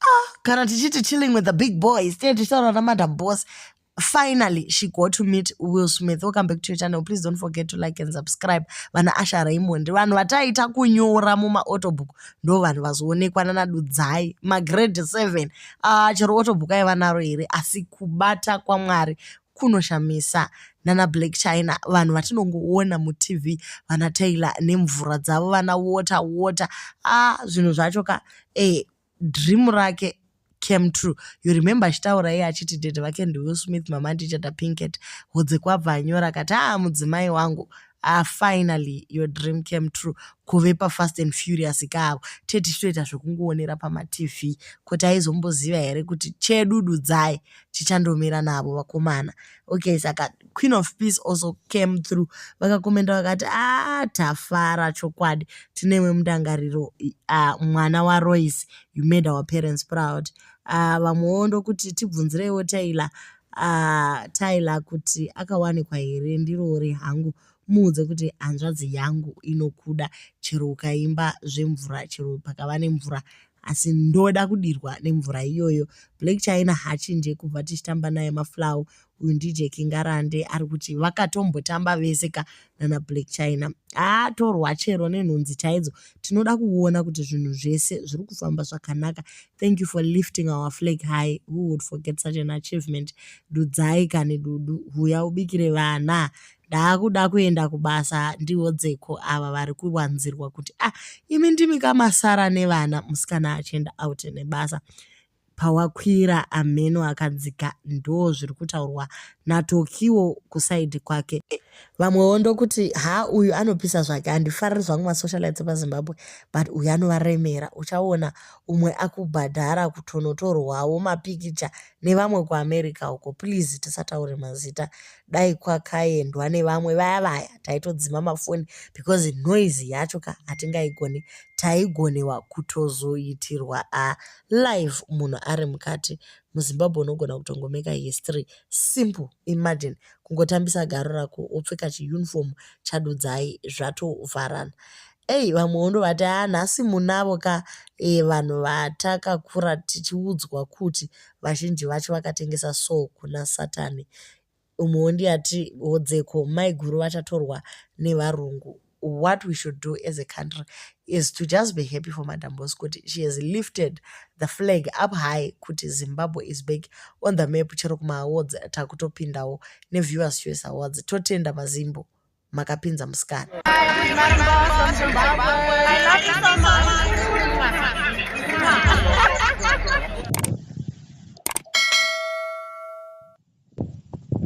Ah, kana tichiti chilling with the big boys tee tichitaura namadam boss finally she got to meet will smith welcome back to your channel please don't forget to like and subscribe vana asha raymond vanhu vataita kunyora mumaautobook ndo vanhu vazoonekwa nanadudzai magrade 7 uh, ah, chero autobook aiva naro here asi kubata kwamwari kunoshamisa nana black china vanhu vatinongoona mutv vana taylor nemvura dzavo vana water water a ah, zvinhu zvacho ka e dream rake came true you remember achitaura iye achiti dede vake ndiwill smith mama ndichada pinket hodze kwabva anyora akati a ah, mudzimai wangu ah finally your dream came true kuve pafast and furious kaavo tete titoita zvekungoonera pamatv kuti aizomboziva here kuti chedududzai chichandomira navo vakomana okay saka queen of peace also came through vakakomenda vakati a ah, tafara chokwadi tinewe mundangariro uh, mwana waroyce you made our parents proud uh, vamwewo ndokuti tibvunzireiwo taila uh, taila kuti akawanikwa here ndirori hangu Muudze kuti hanzvadzi yangu inokuda chero ukaimba zvemvura chero pakava nemvura asi ndoda kudirwa nemvura iyoyo. Black China hachinje kubva tichitamba naye maflow uyu ndije Kingarande ari kuti vakatombotamba vese ka nana Black China. Atorwa chero nenhunzi chaidzo tinoda kuona kuti zvinhu zvese zviri kufamba zvakanaka. Thank you for lifting our flag high. Who would forget such an achievement? Dudzai kani dudu huya ubikire vana. Ndaakuda kuenda kubasa ndihodzeko ava vari kuwanzirwa kuti ah imi ndimi ka masara nevana musikana achienda out nebasa. Pawakwira ameno akadzika ndoo zviri kutaurwa naTokiwo kusaidhi kwake. Vamwewo ndokuti ha uyu anopisa zvake handifariri zvangu masocialites epaZimbabwe but uyu anovaremera uchaona umwe akubhadhara kutonotorwawo mapikicha nevamwe kuAmerica uko please tisataure mazita dai kwakaendwa nevamwe vaya vaya taitodzima mafoni because noise yacho ka hatingaigone taigonewa kutozoitirwa a live munhu ari mukati muzimbabwe unogona kutongomeka history simple imagine kungotambisa garo rako wopfeka chiuniform chadudzai zvatovharana Ei vamwe wondovati haa nhasi munavo ka e, vanhu vatakakura tichiudzwa kuti vazhinji vacho vakatengesa so kuna satani umwe wondiyati hodzeko maiguru vachatorwa nevarungu what we should do as a country is to just be happy for madam bos kuti she has lifted the flag up high kuti zimbabwe is back on the map chero kumaawards takutopindawo neviewers choice awards totenda mazimbo makapinza musikana